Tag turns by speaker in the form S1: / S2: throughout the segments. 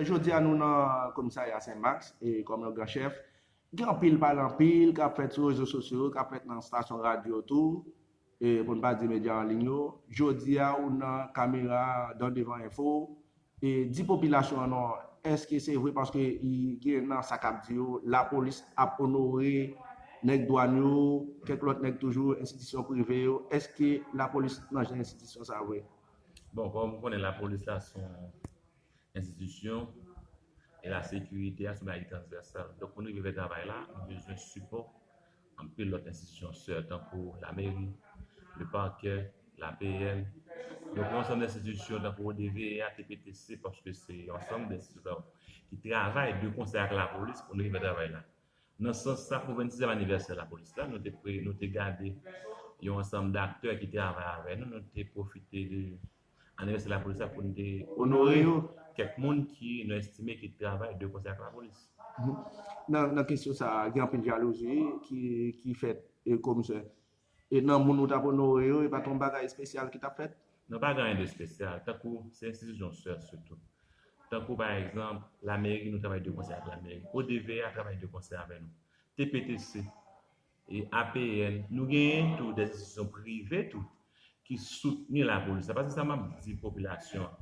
S1: Jodi a nou nan komisarya Sen Max e kòm yon gran chèf, gen anpil pale anpil k ap fèt sou rezo sosyo yo, k ap fèt nan stasyon radyo tou, pou n pa di medya an liy yo. Jodi a ou nan kamera dan devan enfo, di popilasyon an non, èske se vre paske gen nan sa k ap di yo lapolis ap onore nèg dwàn yo, kèk lòt nèg toujou, enstitisyon prive yo, èske lapolis nan jan enstitisyon sa vre? Bon, kòm ou
S2: konnen lapolis la s on. enstitisyon e la sekirite a se yon bagay ki transvèsal. Donk pou nou rive fè travay la, nou bezwen sipò anpil lòt enstitisyon sè tankou lameri, lepakè, lapn, donk yon ansanm enstitisyon tankou ODVA, TPTC paske se yon ansanm de enstitisyon ki travay de konsè ak lapolis pou nou rive fè travay la. Nan sans sa, pou 26 èm anivèsè lapolis la, nou te gade yon ansanm daktè ki travay avè nou, nou te pwofite de. Anivèsè Lapolis la pou n te onore yo,
S1: kèk moun
S2: ki
S1: nou
S2: estime ki travay de konsè ak Lapolis.
S1: Nan kesyon sa a, gen anpil jalouzi ki fèt komisè. E nan moun ou t ap onore yo, e pa t yon bagay espesyal ki t ap fèt? Non, pa gen anyen de
S2: espesyal. Tankou se enstitisyon sè sitou. Tankou pa egzanp, Lameri, nou travay de konsè ak Lameri. ODVA travay de konsè avè nou. TPTC, E apl nou genyen tou des institutions privées tou ki soutni la police la pase sa map di population an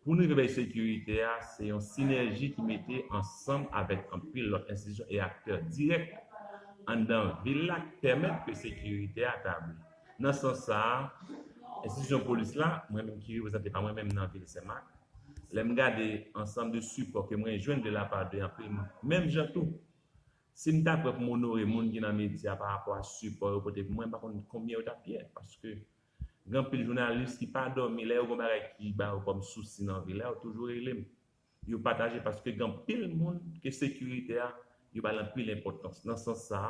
S2: pou nou rive bay securite a se yon synergie ki mete ansanm avek anpil lot institutions e acteurs direk anndan vil la ki pemet ke securite a tabli nan sans sa institutions police la mwen menm ki reprezante pa mwen menm nan vil senmak lem gade ansanm de support ke mwen jwenn de la part de anpil moun menm jan tou Sim ta prè poum onore moun ki nan media pa rapò a sipò yo pote pou mwen mpa konn konbyen yo tap ye paske gen anpil jounalis ki pa dòmi lè yo gon bagay ki ba yo kòm sousi nan vi la yo toujou relem yo pataje paske gen anpil moun ke sekirite a yo bal anpil enpòtans nan sans sa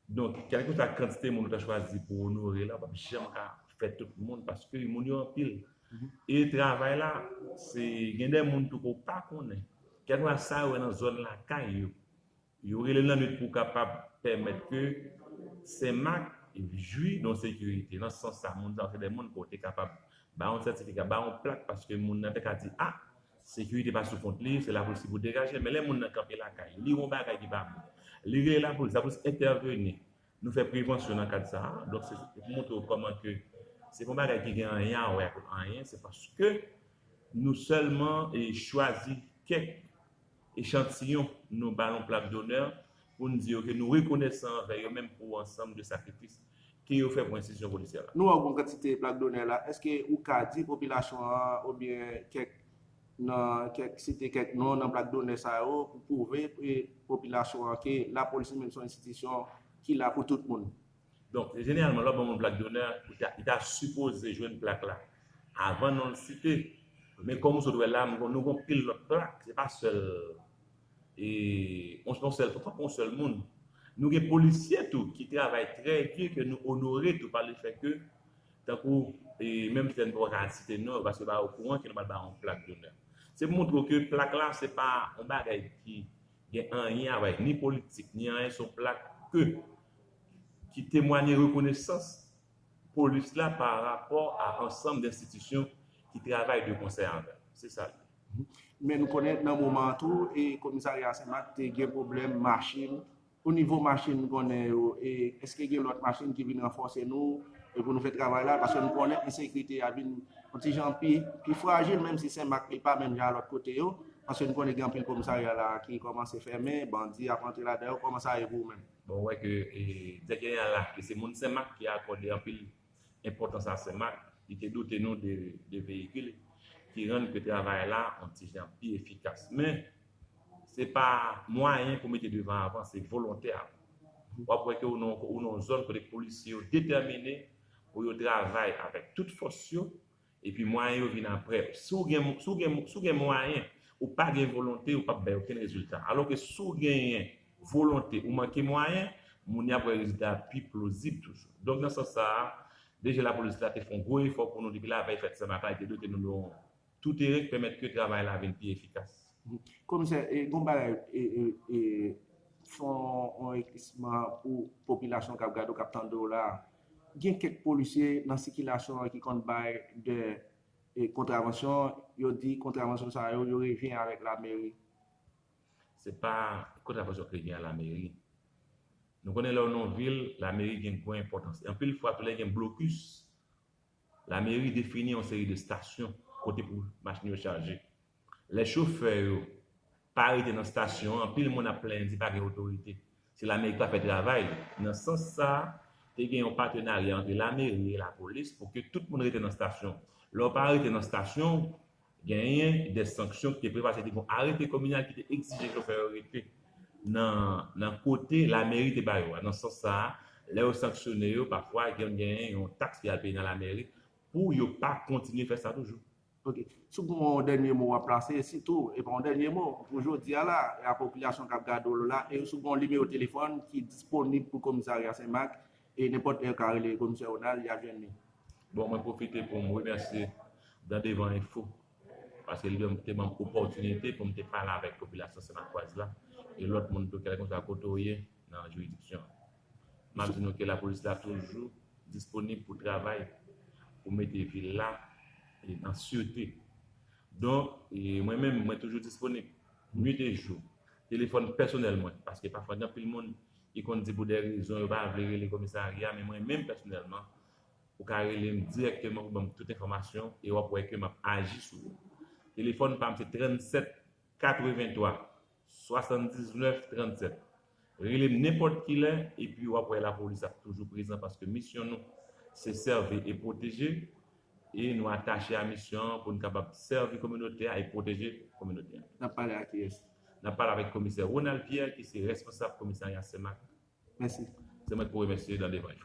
S2: Donk, kèlkeswa kantite moun ou ta chwazi pou w onore la, w pap janm ka fè tout moun paske moun yo anpil. E travay la, se gen de moun tou ke w pa konnen. Kèlkeswa sa yo wè nan zòn lakay yo, yo rele l nan lit pou kapab pèmèt ke Senmak jwi de yon sekirite. Nan sans sa, moun sa yo se de moun ke w te kapab ba yon sètifika, ba yon plak paske moun nan te ka di, a! Sekirite pa sou kont li, se lapolis ki pou degaje l. Men lè moun nan kanpe lakay li, li wè yon bagay ki pa bon, li rele lapolis, lapolis entèveni. Nou fè prevansyon nan kad sa a. Donk se pou montre w kòman ke se pa yon bagay ki gen anyen a wè ak anyen, se paske nou sèlman chwazi kèk. Echantiyon, nou ba yon plak donè pou n di yo ke nou rekonesan anvè yo menm pou ansanm de sakrifis ke yo fè pou enstitisyon polisyè la. Nou ba w bon kantite
S1: plak donè la, eske ou ka di popilasyon an oubyen kèk nan kèk site kèk non nan plak donè sa yo pou pwouve popilasyon an ke lapolis li menm se yon enstitisyon ki la pou tout moun? Donk, jeneralman,
S2: lè w ap ban moun plak donè, li ta sipoze jwenn plak la avan non l site. Men kòm ou sot wè la, nou gen yon pil lòt plak, se pa sèl yon sèl moun. Nou gen polisye tou ki travay trè di, ke nou onore tou pa le fè ke, tankou, menm si nou pa ka site non yo, paske yo pa okouran ke nou pral ba yon plak donè. Se pou montre w ke plak la se pa yon bagay ki gen anyen avèk ni politik ni anyen se yon plak ke ki temwanye rekonesans polis la pa rapò a ansanm denstitisyon ki travay de konsè avè l se sa l ye. Men nou
S1: konnen nan moman an tou e komisarya senmak te gen pwoblèm machin o nivo machin nou konnen yo e eske gen lòt machin ki vin ranfòse nou E pou nou fè travay la, paske nou konnen ensekirite a vin yon ti jan pi frajil, menm si Senmak li pa menm jan a lòt kote yo, paske nou konnen gen anpil komisarya la ki kòmanse fèmen, bandi ap antre ladan yo, kòman sa ye pou ou menm? Bon, ou wè ke
S2: Direktè Jeneral la, ke se moun Senmak ki akòde anpil enpòtans a Senmak, li te dote nou de veyikil ki rann ke travay la yon ti jan pi efikas. Men, Se pa mwayen pou mete devan avan, se volontè avan. W ap wè ke ou nan yon zòn kote polisye yo detèmine pou yo travay avèk tout fòs yo, epi mwayen yo vin apre. Si w gen, si w gen, si w gen mwayen, ou pa gen volonte, ou pap bay okenn rezilta. Alò ke si w genyen volonte, ou manke mwayen, moun yo ap wè rezilta a pi plozib toujou. Donk nan sans sa a, DG Lapolis la te fè yon gwo efò pou nou depi lavèy fèt Senmata, li te dote nou de yon Tout erè k pèmèt ke travay la vin pi efikas. Komisè, gen
S1: yon bagay, fè yon eklèsisman pou popilasyon k ap gade w, k ap tande w la a. Gen kèk polisye nan sikilasyon an ki konn bay dè kontravansyon, yo di kontravansyon sa yo, yo revyen avèk lameri.
S2: Se pa kontravansyon k revyen a lameri. Nou konnen lè w nan yon vil, lameri gen gwo enpòtans. Anpil fwa tou lè gen blokis, Lameri defini yon seri de stasyon kote pou machin yo chaje. Lè chofè yo pa rete nan stasyon an, anpil moun ap plenyen di pa gen otorite. Se lameri ki pa fè travay li. Nan sans sa, te gen yon patenarya antre lameri e lapolis pou ke tout moun rete nan stasyon. Lè w pa rete nan stasyon w, Genyen de sanksyon ki te pre paske te gon arete kominal ki te egzije chofè yo rete nan kote lameri te ba yo a. Nan sans sa, lè yo sanksyone yo, pafwa gen genyen yon taks pou y al peye nan lameri pou yo pa kontinye fè sa toujou. Ok. Si w
S1: gon yon dènye mo w ap plase, e sitou, e pa yon dènye mo, pou jodi a la, e a popilasyon k ap gade w la, e si w gon yon nimewo telefòn ki disponib pou komisarya Senmak, E nenpòt lè ka rele komisè Ronald yap jwenn li. Bon mwen pwofite
S2: poum remèsye Dan Devan Enfo paske li banm te banm opòtinite poum te pale avèk popilasyon Sennakwaz la e lòt moun tou kèlkeswa kote ou ye nan jiridiksyon an. Map di nou ke lapolis la toujou disponib pou travay pou mete vil la an sirte. Donk mwen menm mwen toujou disponib nwit e jou. Telefòn pèsonèl mwen paske pafwa gen anpil moun Li konn di pou de rezon yo pa vle rele komisarya men mwen menm pèsonèlman ou ka rele m dirèkteman pou ban m tout enfòmasyon e w ap wè ke m ap aji sou ou. Telefòn pa m se 37 83 79 37. Rele m nenpòt kilè epi w ap wè lapolis ap toujou prezan paske misyon nou se sèvi e pwoteje e nou atache a misyon an pou n kapab sèvi kominote a e pwoteje kominote a. N ap pale a kiyès?
S1: N ap pale avèk komisè
S2: Ronald Pierre ki se responsab komisarya Senmak. Mèsi. Se mwen ki pou remèsye nan devan yo.